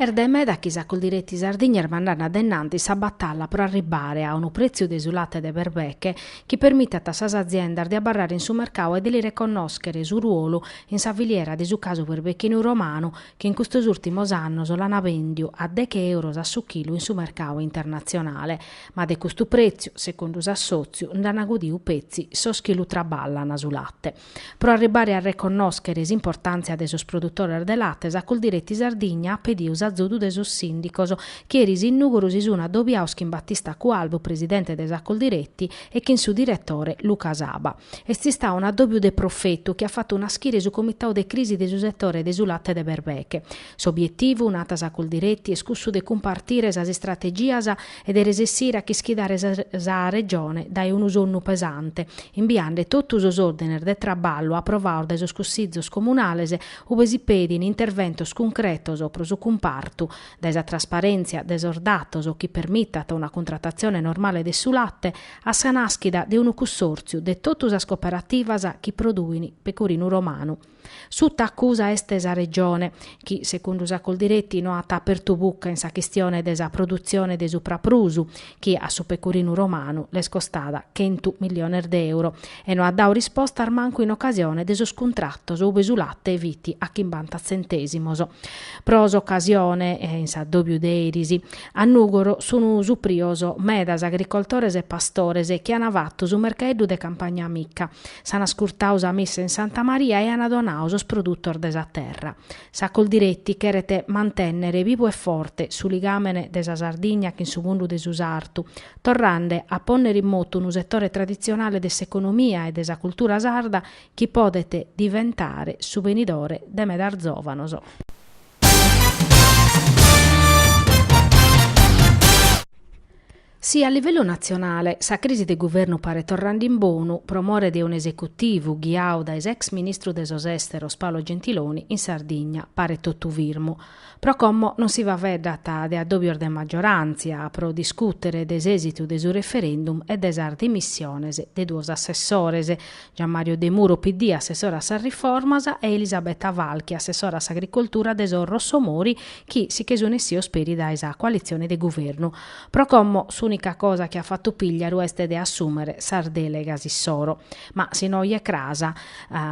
Est de meda chi sa Coldiretti Sardigna est mandande de innantis sa batalla pro arribbare a unu pretziu de su latte de berbeche chi permitat a sas aziendas de abarrare in su mercau e de li reconnòschere su ruolu in sa filiera de su casu berbechinu romanu chi in custos ùrtimos annos l'ana bèndiu a deche euros a su chilu in su mercau internatzionale ma de custu pretziu secundu s'assòtziu nd'ana gudiu petzi sos chi lu traballan su latte. Pro arribbare a reconnòschere s'importàntzia de sos produtores de latte, sa Coldiretti Sardigna at pediu s'azudu de sos sìndicos, chi eris in Nùgoro si sun addobiaos chin Battista Cualbu, presidente de sa Coldiretti, e chin su diretore Luca Saba. Est istau un'addòbiu de profetu chi at fatu naschire su comitau de crisi de su setore de su latte de berbeche. S'obietivu, nat sa Coldiretti, est cussu de cumpartire sas istrategias, e de resessire a chischidare sa Regione dae unu sonnu pesante, imbiande totu sos òrdines de traballu aprovaos dae sos Cussizos Comunales, ube si pedin interventos cuncretos pro su cumpartu, dae sa trasparèntzia de sos datos chi permitat una cuntratatzione normale de su latte, a sa nàschida de unu cussòrtziu de totu sas cooperativas chi produin pecurinu romanu. Suta accusa est sa Regione, chi, secundu sa Coldiretti, no at apertu bucca in sa chistione de sa produtzione de supraprusu, chi a su pecurinu romanu l'est costada chentu milliones d'euro, e no at dau rispostas mancu in ocasione de sos cuntratos ube su latte fit a chimbanta tzentèsimos. Pro s'ocasione, in s'addòbiu de eris, a Nùgoro sun suprios medas agricoltores e pastores chi ana fatu su mercaeddu de Campagna Amica. S'an ascurtau sa missa in Santa Maria e an donau sos produtos de sa terra. Sa Coldiretti cheret mantènnere bivu e forte su ligàmene de sa Sardigna chin su mundu de su sartu, torrande a pònnere in motu unu setore traditzionale de s'economia e de sa cultura sarda chi podet diventare su benidore de medas zòvanos. Si a livellu natzionale sa crisi de guvernu paret torrande in bonu pro more de un'esecutivu ghiau dae s'ex ministru de sos Èsteros Paolo Gentiloni, in Sardigna paret totu firmu. Pro como non si faveddat de addòbios de magioràntzia pro discùtere de s'èsitu de su referendum e de sas dimissiones de duos assessores, Gianmario Demuro, PD, assessore a sas riformas, e Elisabetta Falchi, assessora a s'agricoltura de sos Rossomori, chi si che sun essios peri dae sa coalitzione de guvernu. Pro como s'ùnica cosa chi at fatu Pigliaru est de assùmere sas dèlegas issoro, ma si no oje cras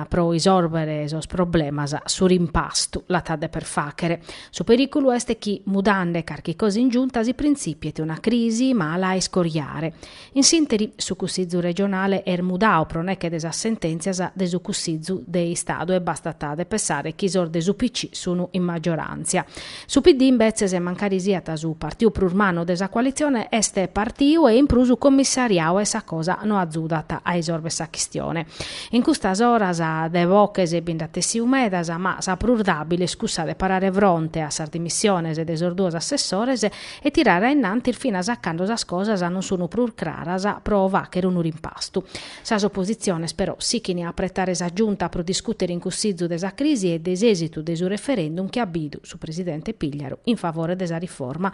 pro isòrbere sos problemas su rimpastu l'at a deper fàchere. Su perìculu est chi mudande carchi cosa in Giunta si printzipiet una crisi mala a iscoriare. In s'interi, su Cussizu regionale est mudau pro nèche de sas sentèntzias de su Cussizu de Istadu e bastat de pessare chi sos de s'UPC sunu in maggioràntzia, su PD imbetzes, mancari siat su partiu prus mannu de sa coalitzione, est partiu e in prus commissariau e sa cosa no azudat a isorver sa chistione. In custas oras de boches bi nd'at essiu medas ma sa prus dàbile est cussa de parare fronte a sas dimissiones de sos duos assessores e tirare a innantis finas a cando sas cosas non sun prus craras pro facher unu rimpastu. Sas oppositziones però sichint a apretare sa Giunta pro discùtere in Cussizu de sa crisi e de s'èsitu de su referendum chi at bidu su presidente Pigliaru in favore de sa riforma,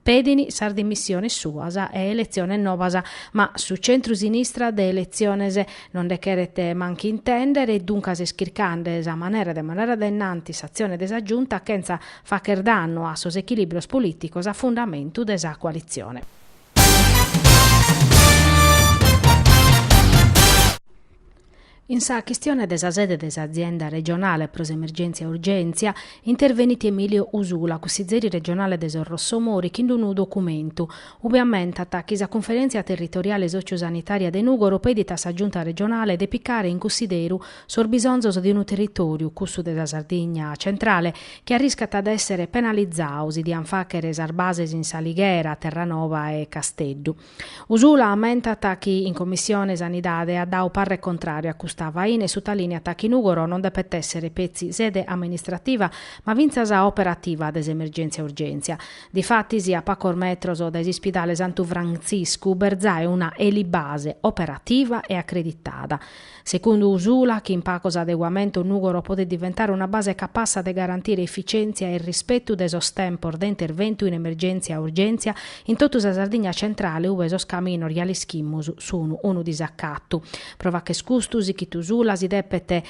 pedint sas dimissiones suas e eletziones nobas, ma su centru-sinistra de eletziones non nde cheret manchi intèndere e duncas est chircande sa manera de mandare a dae innanti s'atzione de sa Giunta chentza Facher dannu a sos echilìbrios polìticos a fundamentu de sa coalitzione. In sa chistione de sa sede de s'azienda regionale pro s'emergèntzia e urgèntzia intervenit Emilio Usula, cussizeri regionale de sos Rossomori, chin d'unu documentu, ube ammentat chi sa Cunferèntzia Territoriale Sòtziu-Sanitària de Nùgoro pedit a sa Giunta regionale de picare in cussideru sos bisonzos de unu territòriu, cussu de sa Sardigna centrale, chi arriscat a èssere penalizau si diant fàchere sas bases in S'Alighera, Terranova e Casteddu. Usula ammentat chi in Commissione Sanidade at dau parre contràriu a custa faina e sutalìniat chi Nùgoro non depet èssere petzi sede amministrativa ma fintzas operativa de s'emergèntzia-urgèntzia. Difatis, a pacos metros dae s'ispidale Santu Frantziscu b'est zai una elibase operativa e acreditada, Secundu Usula, chin pacos adeguamentos Nùgoro podet diventare una base capassa de garantire efficèntzia e rispetu de sos tempos de interventu in emergèntzia e urgèntzia in totu sa Sardigna Centrale ube sos caminos ja l'ischimus sun unu disacatu. Pro facher custu sichit Usula si depet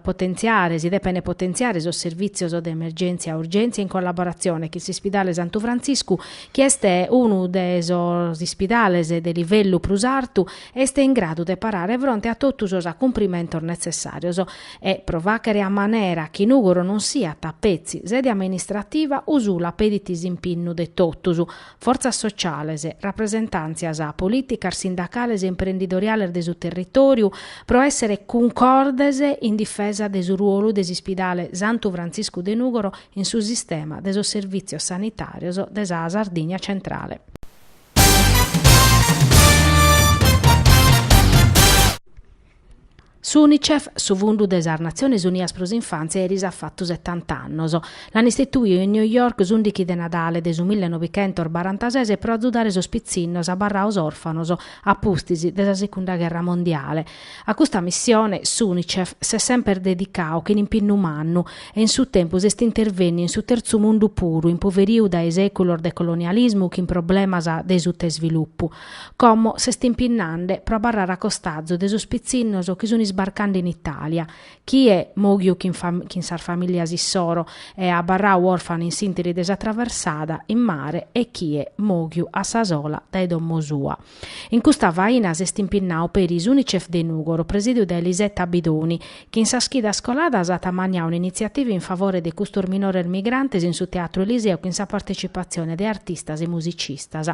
potentziare, si depene potentziare sos servìtzios de emergèntzia e urgèntzia in collaboratzione chin s'Ispidale Santu Frantziscu chi est unu de sos ispidales de livellu prus artu e est in gradu de parare fronte a totu sos acumprimentos netzessàrios e, pro fàchere a manera chi Nùgoro non siat, petzi, sede amministrativa, Usula pedit s'impinnu de totus, fortzas sociales, rapresentàntzias polìticas, sindacales e imprendidoriales de su territòriu, pro èssere cuncordes in difesa de su ruolu de s'Ispidale Santu Frantziscu de Nùgoro in su sistema de sos servìtzios sanitàrios de sa Sardigna centrale. Su Unicef, su fundu de sas Natziones Unias pro s'infàntzia, eris at fatu setanta annos. L'ant istituiu in New York s'ùndighi de Nadale de su mille novichentos barantases pro azudare sos pitzinnos abarraos òrfanos a pustis de sa Secunda Gherra Mondiale. A custa missione s'Unicef s'est semper dedicau chin impinnu mannu e in su tempus est intervenniu in su terzu mundu puru impoveriu dae seculos de colonialismu chin problemas de sutaisvilupu. Como s'est impinnande pro abarrare a costazu de sos pitzinnos chi sun isbarcande in Italia, chie moghiu chin sas familias issoro e abarrau orfanu in s'interi de sa traversada in mare e chie moghiu a sa sola dae domo sua. In custa faina s'est impinnau peri s'Unicef de Nùgoro, presìdiu dae Lisetta Bidoni, chi in sas chidas coladas at ammanniau un'initziativa in favore de custos minores migrantes in su Teatro Eliseo chin sa partetzipatzione de artistas e musicistas.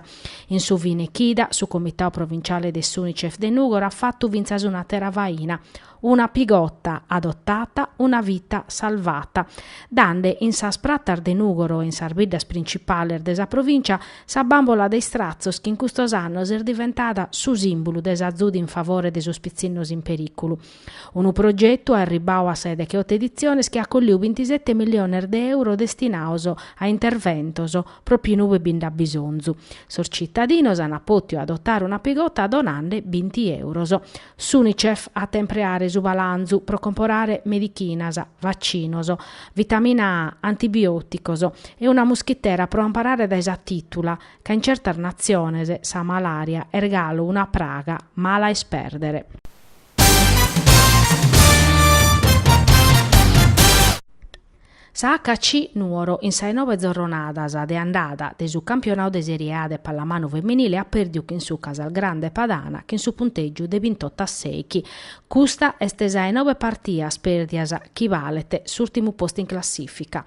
In su fine chida, su Comitau Provinciale de s'Unicef de Nùgoro at fatu fintzas un'àtera faina, Una pigotta adottata, una vita salvata. Dande in sas pratas de Nùgoro e in sas biddas principales de sa provìncia sa bàmbola de istratzos chi in custos annos est diventada su sìmbulu de s'azudu in favore de sos pitzinnos in perìculu. Unu progetu arribbau a sa 'e dech'oto editziones chi at colliu bintisete milliones de euro destinaos a interventos pròpiu inube bi nd'at bisonzu. Sos citadinos ant pòtiu adotare una pigotta donande binti euros. S'Unicef at a impreare su balanzu pro comporare medichinas, vacinos, vitamina A, antibiòticos e una muschitera pro amparare dae sa tìtula, ca in certas natziones sa malària est galu una praga mala a ispèrdere. Sa HC Nuoro in sa 'e nobe zorronadas de andada de su campionau de Serie A de pallamanu feminile at pèrdiu chin su Casalgrande Padana chin su puntègiu de bintotto a sèichi. Custa est sa 'e nobe partias pèrdias chi balet s'ùrtimu postu in classìfica.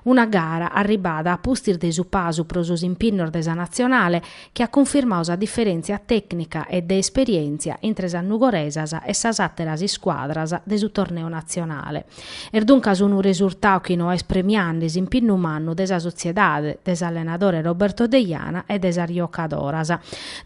Una gara arribbada a pustis de su pasu pro sos impinnos de sa natzionale chi at cunfirmau sa diferèntzia tècnica e de esperièntzia intre sas nugoresas e sas àteras iscuadras de su torneu natzionale. Est duncas unu resurtau chi no est premiande s'impinnu mannu de sa sotziedade, de s'allenadore Roberto Deiana e de sas jocadoras.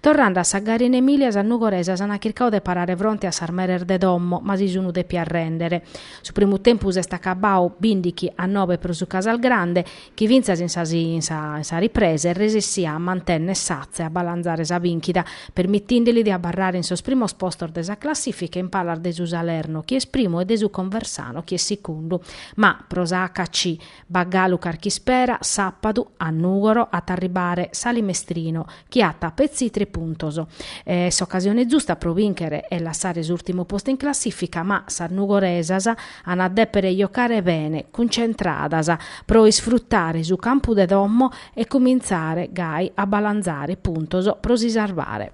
Torrande a sa gara in Emilia sas nugoresas ant chircau de parare fronte a sas meres de domo ma si sun depias rèndere. Su primu tempus est acabau bìndichi a nobe pro su Casalgrande Chi fintzas in sa in sa ripresa est resessia a mantenner s'atza e a balanzare sa bìnchida, permitinde li de abarrare in sos primos postos de sa classìfica in palas de su Salerno chi est primu e de su Conversano chi est secundu. Ma pro sa HC b'at galu carchi ispera, sàpadu, a Nùgoro, at a arribare s'Alì Mestrino, chi at petzi tres puntos. S'ocasione zusta pro bìnchere e lassare s'ùrtimu postu in classìfica, ma sas nugoresas an a dèpere jocare bene, cuntzentradas, pro isfrutare su campu de domo e cumintzare gai a balantzare puntos pro si sarvare.